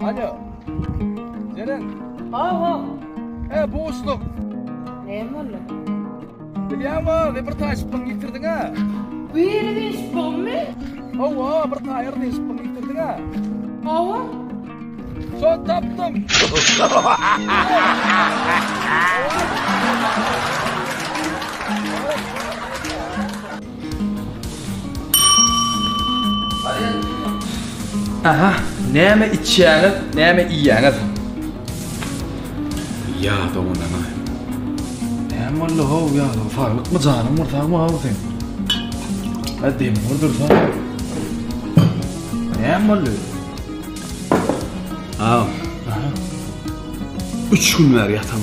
Alo. Jeren. Awa. E, bu usluk. Ne boldu? Bilýäňmi, ne bir taşyplygyňy ýitirdiň a? Biri deşipmi? Awa, bir taýyr deşiplygyňy ýitirdiň a? Awa. Şon tapdym. Aha, näme içýäňiz, näme iýýäňiz? Ýa doňanana. Näme boldy how ýa doňa? Saglykmy janyň bir sagmy how seň? Hä dem bordur sa. Näme boldy? How. Üç gün bäri ýatam.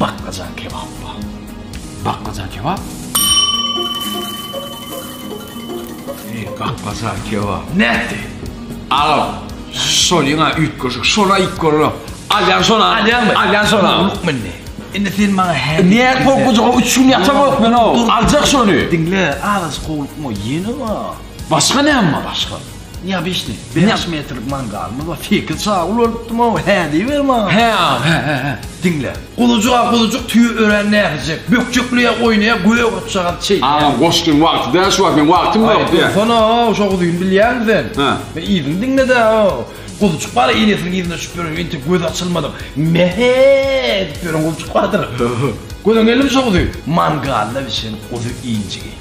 Baklajan kebap bar. Baklajan kebap? Eý, baklajan kebap. Nätdi? Alo. Şol ýa üýtgeşik, şola iýip görüň. Alýan şona, alýanmy? Alýan şona. Ýok mende. Indi sen maňa hä? Niye korkucuğa üç gün yatam yok ben o? Alacak şunu. Dinle, ağız kovuluk mu? Yeni mi? Başka ne ama başka? Neobişli, bäş metrlik mangalymyz bar. Sekiz çagyl bolupdym-ow, hä diýiber maňa. Hä, aga, hä, hä, hä. Diňle. Gulujyk-a gulujyk, tüýi ören näsijek. Bökjekleýär, oýnaýar, göýä gurçagaz çeýe. Agam, goşgyň wagty däl, şu wagt meň wagtym ýok diýýär. Aý, dursana-ow, şo guzyny bilýäňmi sen? Hä. Men yzyny diňle-dä-ow. Gulujyk bar, enesiniň yzyna düşüp ýören, entek gözi açylmadyk, me-he edip ýören gulujyk bardyr. Görüň geldim şo guzy. Mangalda bişen guzy injigi.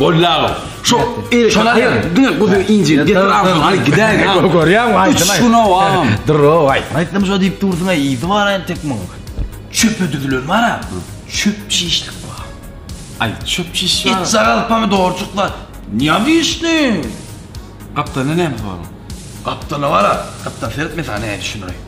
Boldy aga. Şo şolar ýa diňe guzy inji getir agşam aly gidäýin. Görýäňmi aýtyn aýt. Şuna wam. Durro aýt. Aýtdym şo diýip dursuň aý yzy bar aýn tek muň. Çöpe düzülen bar a. Çöp çişlik bar. Aý çöp çiş bar. It sagal pomidorçyklar. Niýe wişni? Gapdalda näme bar? Gapdalda bar a. Gapdal seret men saňa näme düşündiräýin.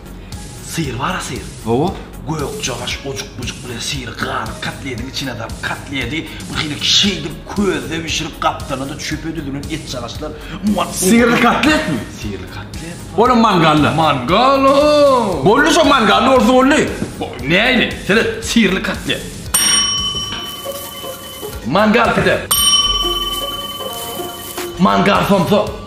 Syr bara syr. Hawa. Gökjagaş ojukbujuk bilen syry galyp kotlediň içine dalyp kotledi bir hilek şeýdip közde bişirip gapdalynda çöpe düzülen etjagaçlar muňa Syrly kotletmi? Syrly kotlet. Olam mangalla. Mangal o. Boldy şo mangalla bolsa boldy. Näýli? Seret syrly kotlet. Mangal pide. Mangal somsa.